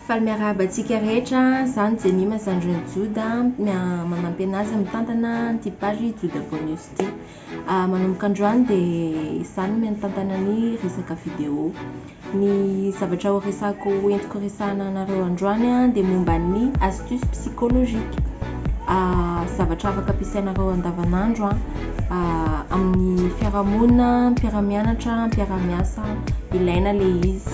Faly miarahaba antsika rehetra zany Jemima zandrin'i Joda manampy anazy mitantana an'ity page Joda Boy News ity. Manomboka androany dia za no mitantana ny resaka vidéo. Ny zavatra horesahako entiko horesahana anareo androany dia momba ny astuce psychologique, zavatra afaka ampiasainareo andavanandro amin'ny fiarahamonina, mpiara-mianatra, mpiara-miasa, ilaina ilay izy.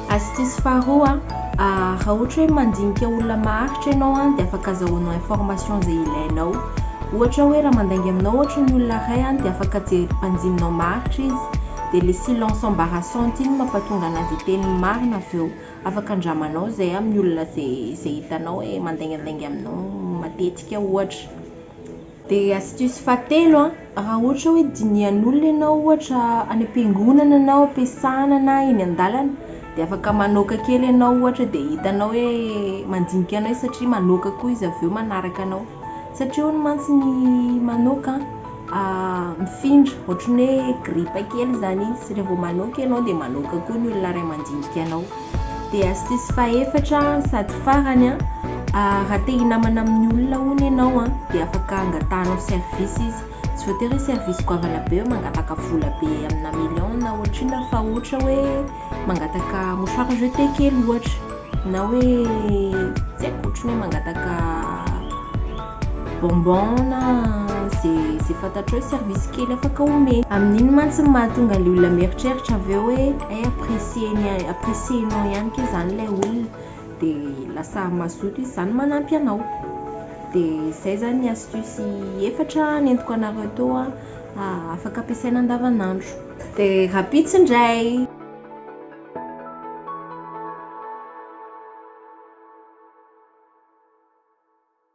Astuce faharoa a, raha ohatra hoe mandinika olona maharitra ianao a, dia afaka azahoanao information izay ilainao. Ohatra hoe raha mandainga aminao ohatra ny olona iray a, dia afaka jery mpanjininao maharitra izy, dia le silence embarrassante iny no mampatonga anazy hiteny ny marina avy eo. Afaka andramanao izay amin'ny olona izay hitanao hoe mandaingandainga aminao matetika ohatra. Dia astuce fahatelo an, raha ohatra hoe dinihan'olona ianao ohatra any am-piangonana ianao, am-piasana na eny an-dalana dia afaka manoaka kely ianao ohatra dia hitanao hoe mandinika anao izy satria manoaka koa izy avy eo manaraka anao, satria hono mantsy ny manoaka an mifindra ohatran'ny hoe gripa kely izany izy, raha vao manoaka ianao dia manoaka koa ny olona iray mandinika anao. Dia sisy fahefatra an, sady farany an, raha te hinamana amin'ny olona hono ianao an, dia afaka angatahanao service izy, tsy voatery hoe service goavana be hoe mangataka vola be amina million na ohatr'inona fa ohatra hoe mangataka mouchoir jeté kely ohatra na hoe tsy haiko ohatry ny hoe mangataka bonbon na ze ze fantatrao hoe service kely afaka omena. Amin'iny mantsy no mahatonga an'ilay olona mieritreritra avy eo hoe hay apprécier-ny apprécier-nao ihany kay zany ilay olona de lasa mazoto izy zany manampy anao. De zay zany ny astuce efatra nentiko anareo teo afaka ampiasaina andavanandro. De rahampitso indray!